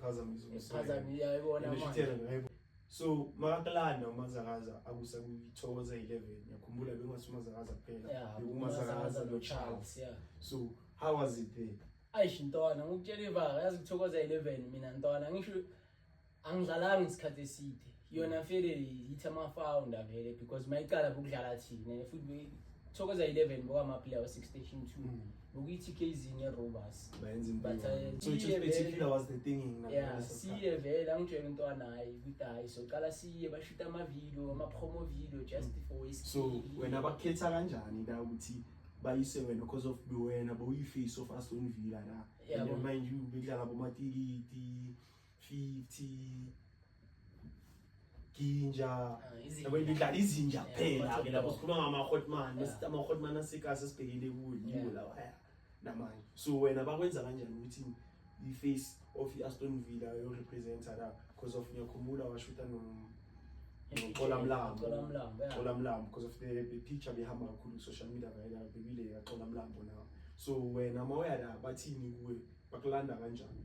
phazamisa umsayibona so makakulanda umazakaza akusa kuyithokoza 11 yakhumbula bekungasi umazakaza kuphela yeah, bekumazakaza no charles yeah. so how was it there ayish ntwana ngokutshela ivaka yazi kuthokoza 11 mina ntwana ngisho angidlalanga isikhathi eside yona vele yithi ama-founder vele because mayiqala bokudlala thina futhi thokoza 11 bokwamaplayer we-six station two Mm. bokuyi-tk zinye robas Bayenza impi But, yona. uh, So it was iye particular vele- was the thing in ya Namibia. siye vele angitshela umntwana hayi ukuthi hayi soqala siye bashuta amavidiyo ama-promo video just for iski So wena bakhetha kanjani la ukuthi bayise wena because of wena bowuyi-face of Aston Villa la. Yabo. And mind you bekudlala bomatikiti 50 ginja ah, yabo ngidlala izinja kuphela ke lapho sikhuluma ngama hotman besithi ama hotman asikase sibhekile kuyo yiwo lawa haya namanje so wena bakwenza kanjani ukuthi i face of i Aston Villa yo representer la because of ngiyakhumbula washuta no Xola Mlambo Xola Mlambo because of the, the picture behamba kakhulu social media vayela bebile ya Xola Mlambo now so wena mawuyala bathini kuwe bakulanda kanjani